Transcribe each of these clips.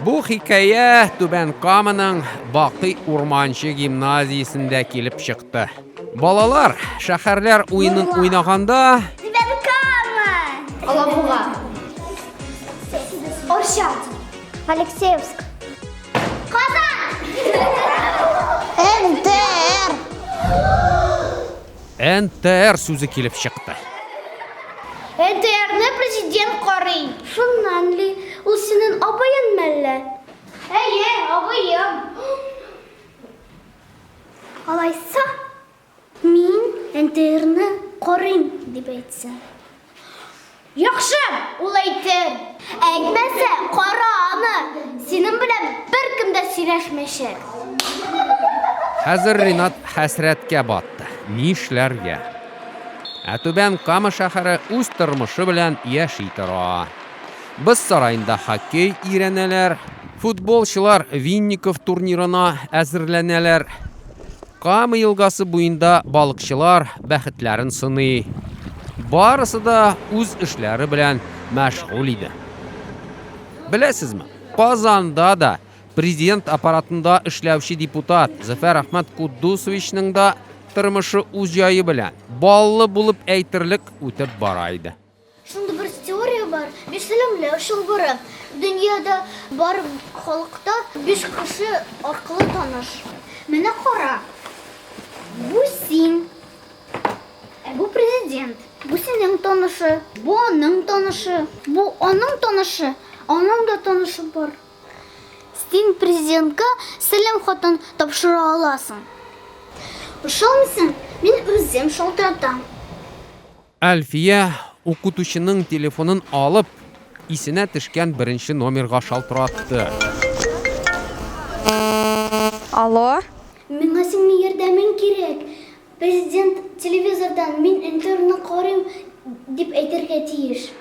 Бу хикәя Түбән Каманың Бакый Урманче гимназиясендә килеп чыкты. Балалар шәһәрләр уенын уйнаганда Түбән Кама! Алабуга. Орча. Алексеевск. Казан! НТР! НТР сүзе килеп чыкты. НТРны президент карый. Шуннан ли, ул синен абыен мәллә? Әйе, абыем. Алайса, мин НТРны карыйм, дип әйтсен. Яхшы, ул әйтер. Әйтмәсә, кара аны, синең белән беркем дә сөйләшмәячәк. Хәзер Ринат хәсрәткә батты. Нишләргә? Ә Түбән Кама шәһәре үз тормышы белән яши тора. Боз сараенда хоккей өйрәнәләр, футболчылар Винников турнирына әзерләнәләр. Кама елгасы буенда балыкчылар бәхетләрен сыный. Барысы да үз эшләре белән мәшгуль иде. Беләсезме, Казанда да президент аппаратында эшләүче депутат Зөфәр Әхмәт Куддусовичның да тормышы үз җае белән, баллы булып әйтерлек, үтеп бара иде. Шундый бер теория бар, биш сәламләү чылбыры. Дөньяда бар халыкта биш кеше аркылы таныш. Менә кара, бу син, ә бу президент, бу синең танышы, бу аның танышы, бу аның танышы, аның да танышы бар. Син президентка сәлам хатын тапшыра аласың. Ошамыйсың, мин үзем шалтыратам. Әлфия, укытучының телефонын алып, исенә төшкән беренче номерга шалтыратты. Алло. Миңа синең ярдәмең кирәк. Президент телевизордан, Мин интерны карыйм, дип әйтергә тиеш.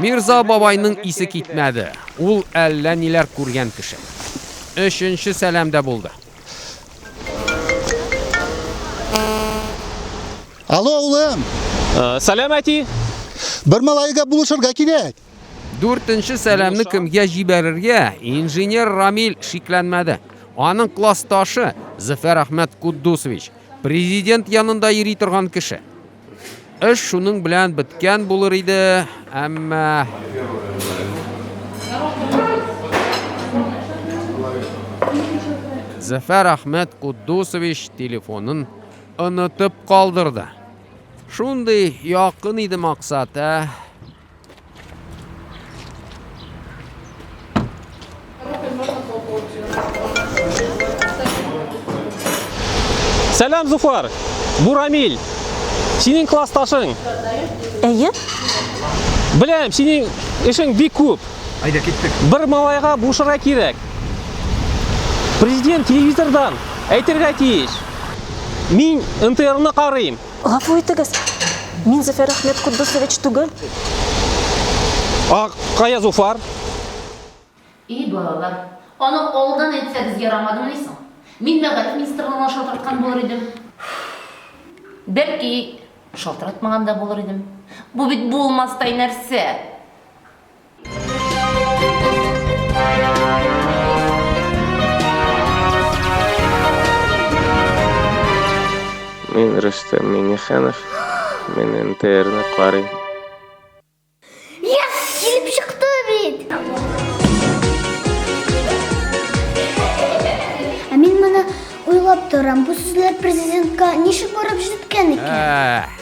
Мирза бабайның исе китмәде, ул әллә ниләр күргән кеше. Өченче сәлам дә булды. Алло, улым! Сәлам, әти! Бер малайга булышырга кирәк! Дүртенче сәламне кемгә җибәрергә, инженер Рамил шикләнмәде. Аның классташы, Зөфәр Әхмәт Куддусович, президент янында йөри торган кеше. Эш шуның белән беткән булыр иде, әмма Зәфәр Ахмәт Куддусович телефонын онытып калдырды. Шундый якын иде максат, ә? Сәлам, Зуфар! Бу Рамиль! Синең классташың! Әйе? Беләм, синең эшең бик күп. Айда киттек. Бер малайга бушырга кирәк. Президент телевизордан әйтергә тиеш. Мин НТРны карыйм. Гафу итегез, мин Зөфәр Әхмәт Куддусович түгел. А кая Зуфар? И балалар, аны алдан әйтсәгез ярамадымыни соң? Мин мәгариф министрлыгына да шалтыраткан булыр идем. Бәлки, шалтыратмаган да булыр идем. Бу бит булмастай нәрсә. Мин Рөстәм Миңнеханов, мин НТРны карыйм. Yes, килеп чыкты бит. Ә мин моны уйлап торам. Бу сүзләр президентка ничек барып җиткән икән?